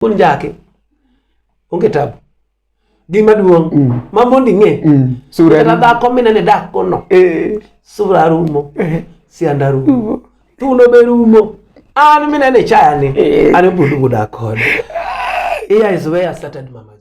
Mon jake. Onge tabu. Gima duong' mm. ma mondi ng'e. Mm. Sura. Kata dhako minene dak kono. Eh. Sura rumo. Eh. Sianda rumo. Tuno be rumo. An minene chaya ni. Eh. An budu buda kod. Here is where I started mama.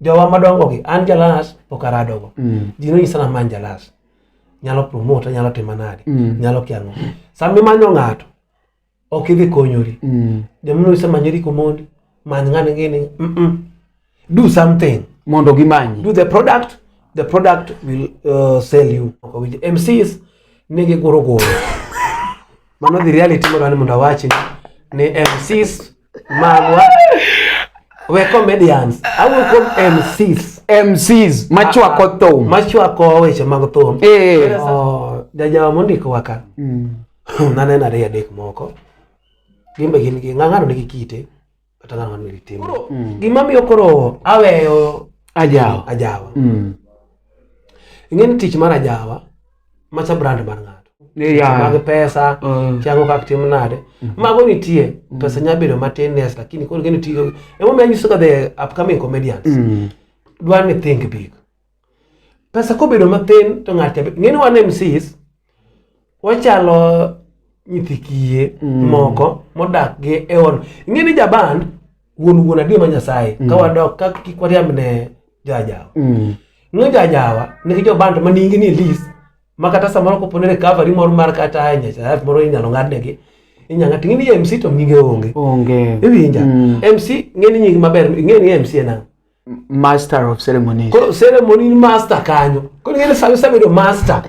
jowa madongo gi an jalas pok aradogo mm. ji nonyisa na man jalas nyalo promote nyalo timo nade mm. nyalo kiango sama imanyo ng'ato ok idhi konyori mm. joma nonyisa manyori komondi many ng'ani ngini mm -mm. do something mondo gimanyi do the product the product will uh, sell you okay, mcs nigi goro goro mano dhi reality modwani mondo awachi ni mcs magwa we comedians au kom MCs MCs machwako ah, ah. thum machwako weche mag thum eh oh, jajawa mondiko waka mm. naneno ariyo adek moko gimbe gin gi ng'ang'ano nigi kite kata ng'ang'ano nigi tim mm. gimamiyo koro aweyo ajawa ajawa mm. ing'e ni tich mar ajawa macha brand mar ng'ato Yeah. mag pesa Mm. chango kak tim nade mago nitie pesa nya bedo matin nes lakini koro gini tiyo emomiyo anyisoga the upcoming comedians Mm. dwar ni think big pesa kobedo mathin to ng'ato ng'eni wan MCs wachalo nyithi kiye mm. moko modak gi e on ing'e ni jaban wuon wuon adier ma nyasaye mm. ka wadok ka kik wariamb ne jajawa mm. ng'e jajawa nigi joband ma nyingi ni lis ma kata samoro kopone recovery moro mar kata e nyasaye moro inyalo ng'adnegi inyanga tingi ni MC to nyinge onge onge iwinja mm. MC ng'e ni nyingi maber ng'e ni MC en ang'o master of ceremonies koro ceremony ni master kanyo koro ing'e ni sama isebedo master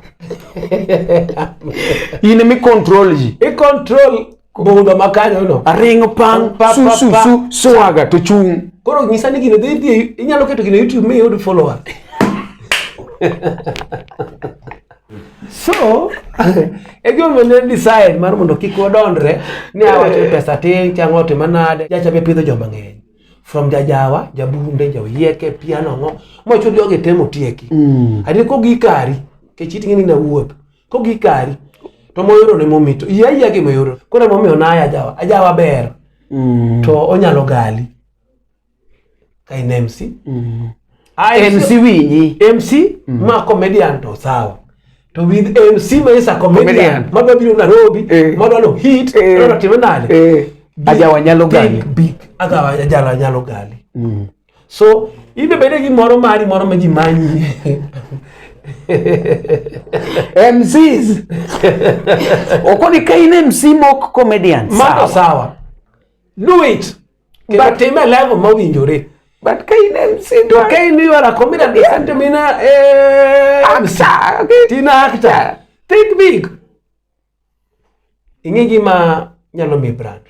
in emi control ji i control budho ma kanyono aringo pang Pa, pa, su su pa. su swaga to chung koro nyisa ni gino dhi dhi inyalo keto gino youtube mi yud follower so e gimomiyo ne decide mar mondo kik wadondre ni awacho pesa tin chang'o otima nade jacha be pidho joma ng'eny from jajawa jaburunde joyieke piano ng'o mocho jogi temo tieki mm. adi ko gikari kech iting'e ni na wuoth ko gikari to moyoro ne momito iya iya gi moyoro kore momiyo na ajawa ajawa ber mm. to onyalo gali kai nemsi mm. Ah, MC winji. MC mm. ma comedian to sawa. To with MC ma isa comedian, comedian. ma biro Nairobi, eh. ma dwaro hit, eh. dwaro time nade? Eh. Aja wanyalo gali. Big, big. Aga aja wanyalo gali. Mm. So, ibe bede gi moro mari moro ma ji manyi. MCs. Okoni kain MC mok comedian. Mato sawa. Do it. Kendo time level mowinjore. But ka in MC to ka in you are a comedian yeah. isn't mean a eh, actor. Okay. Tina actor. Think big. Ing'e gima nyalo mi brand.